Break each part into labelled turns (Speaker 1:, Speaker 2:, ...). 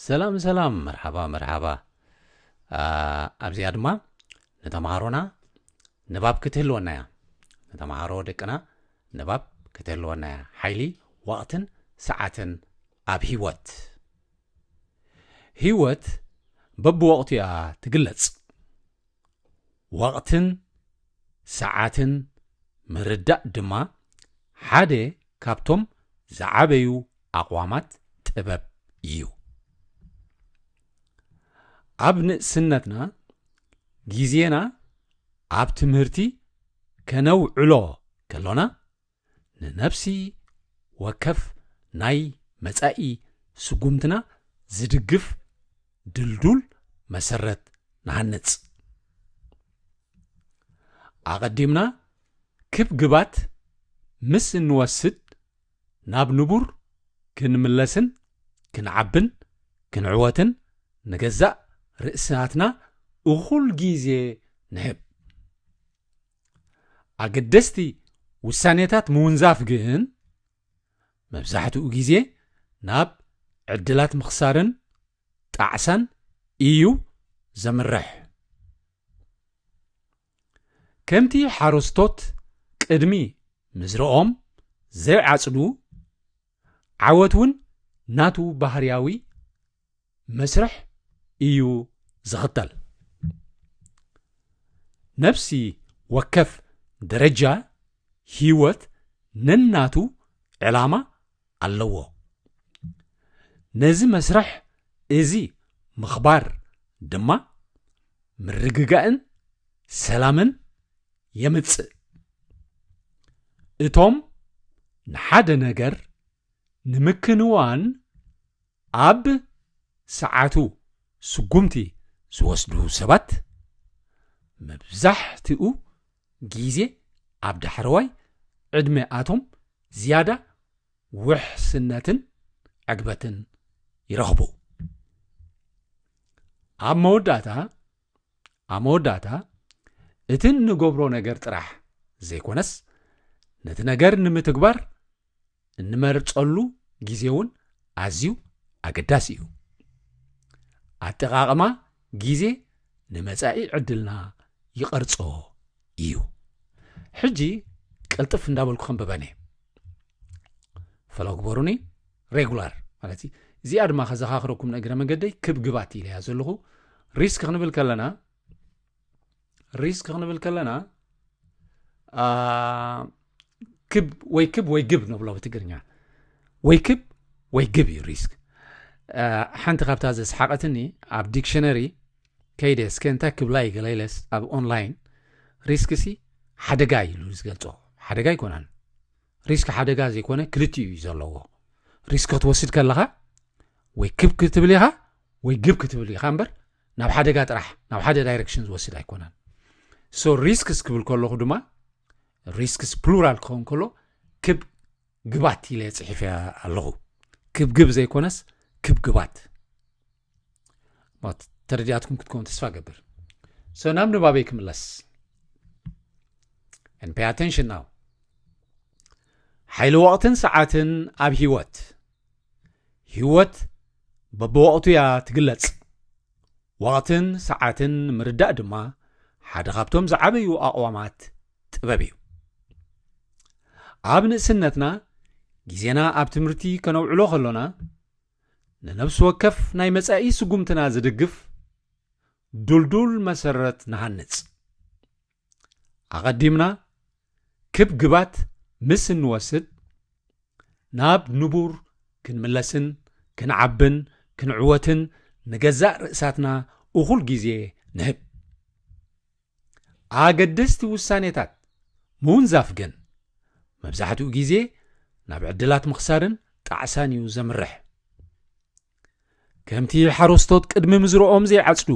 Speaker 1: ሰላም ሰላም መርሓባ መርሓባ ኣብዚኣ ድማ ንተምሃሮና ንባብ ክትህልወና እያ ንተምሃሮ ደቅና ንባብ ክትህልወና እያ ሓይሊ ወቕትን ሰዓትን ኣብ ሂወት ሂወት በብወቕቱ እያ ትግለጽ ወቕትን ሰዓትን ምርዳእ ድማ ሓደ ካብቶም ዝዓበዩ ኣቕዋማት ጥበብ እዩ። ኣብ ንእስነትና ግዜና ኣብ ትምህርቲ ከነውዕሎ ከሎና፣ ንነፍሲ ወከፍ ናይ መጻኢ ስጉምትና ዝድግፍ ድልዱል መሰረት ንሃንጽ። ኣቐዲምና ክብ ግባት ምስ እንወስድ ናብ ንቡር ክንምለስን ክንዓብን ክንዕወትን ንገዛእ ርእስናትና እኹል ግዜ ንህብ። ኣገደስቲ ውሳኔታት ምውንዛፍ ግን መብዛሕትኡ ግዜ ናብ ዕድላት ምኽሳርን ጣዕሳን እዩ ዘምርሕ። ከምቲ ሓረስቶት ቅድሚ ምዝርኦም ዘይዓጽዱ፣ ዓወት እውን ናቱ ባህርያዊ መስርሕ እዩ ዝኽተል። ነፍሲ ወከፍ ደረጃ ህይወት ነናቱ ዕላማ ኣለዎ። ነዚ መስርሕ እዚ ምኽባር ድማ ምርግጋእን ሰላምን የምጽእ። እቶም ንሓደ ነገር ንምክንዋን ኣብ ሰዓቱ ስጉምቲ ዝወስዱ ሰባት መብዛሕትኡ ግዜ ኣብ ዳሕረዋይ ዕድመ ኣቶም ዝያዳ ውሕስነትን ዕግበትን ይረኽቡ። ኣብ መወዳእታ ኣብ መወዳእታ እቲ እንገብሮ ነገር ጥራሕ ዘይኮነስ ነቲ ነገር ንምትግባር እንመርፀሉ ግዜ እውን ኣዝዩ ኣገዳሲ እዩ። ኣጠቓቕማ ግዜ ንመጻኢ ዕድልና ይቐርጾ እዩ። ሕጂ ቅልጥፍ እንዳበልኩ ከንብበን እየ ፈሎ ግበሩኒ ሬጉላር ማለት እዩ እዚኣ ድማ ከዘኻኽረኩም ንእግረ መገደይ ክብ ግባት ኢለያ ዘለኹ ሪስክ ክንብል ከለና ሪስክ ክንብል ከለና ክብ ወይ ክብ ወይ ግብ ንብሎ ብትግርኛ ወይ ክብ ወይ ግብ እዩ ሪስክ ሓንቲ ካብታ ዘስሓቐትኒ ኣብ ዲክሽነሪ ከይደ እስከ እንታይ ክብላ እዩ ገለኢለስ ኣብ ኦንላይን ሪስክ ሲ ሓደጋ ኢሉ ዝገልፆ ሓደጋ ኣይኮነን ሪስክ ሓደጋ ዘይኮነ ክልቲኡ እዩ ዘለዎ ሪስክ ክትወስድ ከለኻ ወይ ክብ ክትብል ኢኻ ወይ ግብ ክትብል ኢኻ እምበር ናብ ሓደጋ ጥራሕ ናብ ሓደ ዳይረክሽን ዝወስድ ኣይኮነን ሶ ሪስክስ ክብል ከለኹ ድማ ሪስክስ ፕሉራል ክኸውን ከሎ ክብ ግባት ኢለ ፅሒፈ ኣለኹ ክብግብ ዘይኮነስ ክብ ግባት ተረዲኣትኩም ክትከውን ተስፋ ገብር ሶ ናብ ንባበይ ክምለስ ን ፔይ ኣቴንሽን ናው ሓይሊ ወቕትን ሰዓትን ኣብ ሂወት ህይወት በብወቕቱ እያ ትግለጽ። ወቕትን ሰዓትን ምርዳእ ድማ ሓደ ካብቶም ዝዓበዩ ኣቕዋማት ጥበብ እዩ። ኣብ ንእስነትና ግዜና ኣብ ትምህርቲ ከነውዕሎ ከሎና ንነብሲ ወከፍ ናይ መጻኢ ስጉምትና ዝድግፍ ዱልዱል መሰረት ንሃንጽ። ኣቐዲምና ክብ ግባት ምስ እንወስድ ናብ ንቡር ክንምለስን ክንዓብን ክንዕወትን ንገዛእ ርእሳትና እኹል ግዜ ንህብ። ኣገደስቲ ውሳኔታት ምውንዛፍ ግን መብዛሕትኡ ግዜ ናብ ዕድላት ምኽሳርን ጣዕሳን እዩ ዘምርሕ። ከምቲ ሓረስቶት ቅድሚ ምዝርኦም ዘይዓጽዱ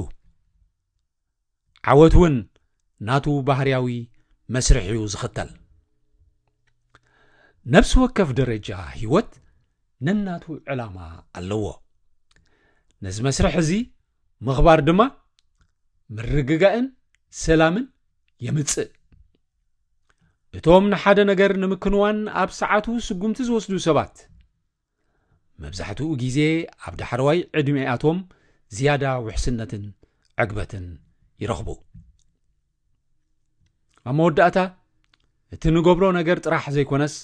Speaker 1: ዓወት ውን ናቱ ባህርያዊ መስርሕ'ዩ ዝኽተል። ነብሲ ወከፍ ደረጃ ህይወት ነናቱ ዕላማ ኣለዎ። ነዚ መስርሕ እዚ ምኽባር ድማ ምርግጋእን ሰላምን የምጽእ። እቶም ንሓደ ነገር ንምክንዋን ኣብ ሰዓቱ ስጉምቲ ዝወስዱ ሰባት፣ መብዛሕትኡ ግዜ ኣብ ዳሕረዋይ ዕድሜኣቶም ዝያዳ ውሕስነትን ዕግበትን ይረኽቡ። ኣብ መወዳእታ እቲ ንገብሮ ነገር ጥራሕ ዘይኮነስ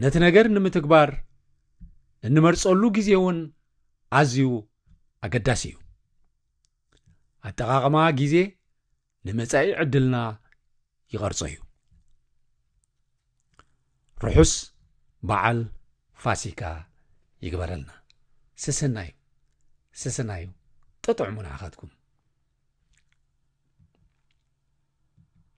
Speaker 1: ነቲ ነገር ንምትግባር እንመርጸሉ ግዜ እውን ኣዝዩ ኣገዳሲ እዩ ኣጠቓቕማ ግዜ ንመጻኢ ዕድልና ይቐርጾ እዩ። ርሑስ በዓል ፋሲካ ይግበረልና። ሰሰናዩ ሰሰናዩ ጠጥዕሙ ንዓኻትኩም